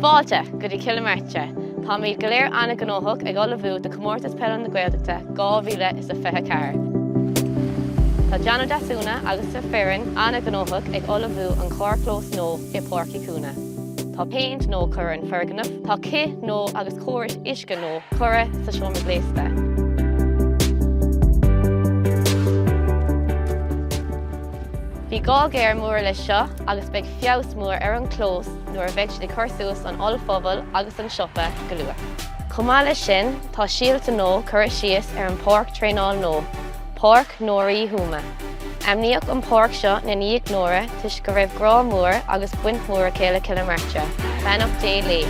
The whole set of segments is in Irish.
Fáilte go dtí Cill na Martra! Táimid go léir an-ghnóthach ag ullmhú do Chomórtas Peile na Gaeltachta 2024. Tá John Ó Deasúna agus a foireann an-ghnóthach ag ullmhú an carrchlós nua i Páirc Uí Chuana. Tá péint nua curtha ar an foirgneamh, tá cith nua agus córais uisce nua curtha sa seomra gléasta. Bhí gá géar mór leis seo agus beidh. feabhas mór ar an gclós nuair a bheidh siad ag cur suas an ollphuball agus an siopa go luath. Chomh maith leis sin, tá síolta nua curtha síos ar an pháirc traenáil nua, Páirc Nóra Uí Thuama. Ainmníodh an páirc seo i ndiaidh Nóra toisc go raibh grá mór agus baint mhór aici le Cill na Martra, beannacht Dé léi.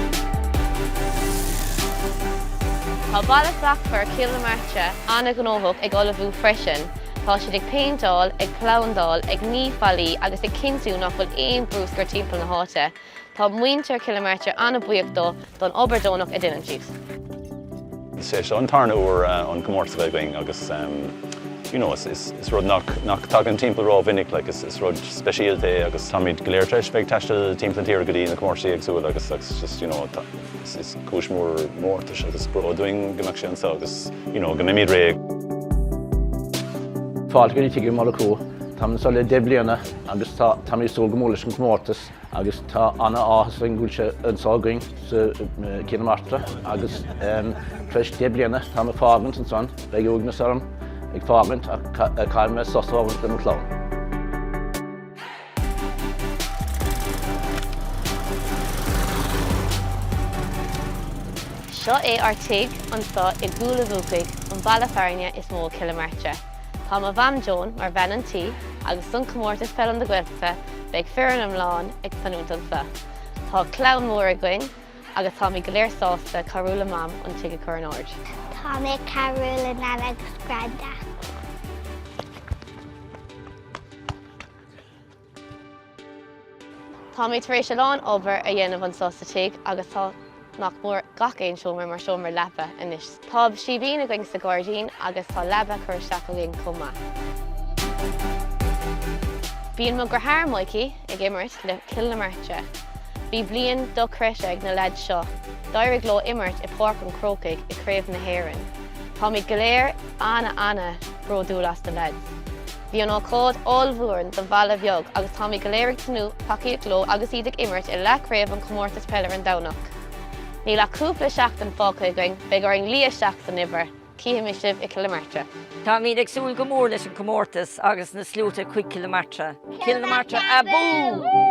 Tá Baile Slachtmhar Cill na Martra an-ghnóthach ag ullmhú freisin. Tá siad ag péinteáil, ag plandáil, ag ní fallaí agus ag cinntiú nach bhfuil aon bruscar timpeall na háite. Tá muintir Cill na Martra an-bhuíoch dóibh don obair deonach a dhéanann siad. Is é seo an tarna uair an comórtas a bheith againn agus you know is rud nach tagann timpeall ró mhinic like is rud speisialta é agus táimid go léir tar éis bheith ag taisteal timpeall na tíre go dtí na comórtaisí éagsúla agus just you know tá Is cúis mhór mórtais agus bróid dúinn go mbeadh sé anseo agus you know go mbeimid réidh. Fáilte go dtí Tigh Uí Mhurchú. Táimid anseo le deich bliana agus tá táimid ag súil go mór leis an chomórtas agus tá an-áthas orainn go bhfuil sé anseo againn i gCill na Martra agus tar éis deich bliana táim ag fágaint ansan, beidh uaigneas orm ag fágaint ach caithfidh mé sos a thógaint lem chlann. Seo é ár tigh anso i gCúil a' Bhuacaigh, an baile fearainn is mó i gCill na Martra. Tá mo Mham Joan mar bhean tí agus don Comórtas Peile na Gaeltachta beidh foireann iomlán ag fanúint anso. Tá clann mór againn agus táimid go léir sásta cabhrú le Mam an tigh a chur in ord. Tá mé ag cabhrú le Nana agus Granda. Tá mé tar éis a lán obair a dhéanamh anso sa tigh agus tá nach mór gach aon seomra mar sheomra leapa anois. Tá síbín againn sa ghairdín agus tá leaba curtha isteach againn chomh maith. Bíonn mo dhriotháir Mikey ag imirt le Cill na Martra. Bhí bliain dochreidte ag na leaids seo, d'éirigh leo imirt i Páirc an Chrócaigh i Craobh na hÉireann. Táimid go léir ana ana bródúil as na leaids. Bhí an ócáid ollmhór do bhaile bheag agus táimid go léir ag tnúth tacaíocht leo agus iad ag imirt i leathchraobh an Chomórtais Peile ar an Domhnach. Níl ach cúpla seachtain fágtha againn, beidh orainn luí isteach san obair, cífimid sibh i Cill na Martra! Táimid ag súil go mór leis an comórtas agus na sluaite chuig Cill na Martra! Cill na Martra abú!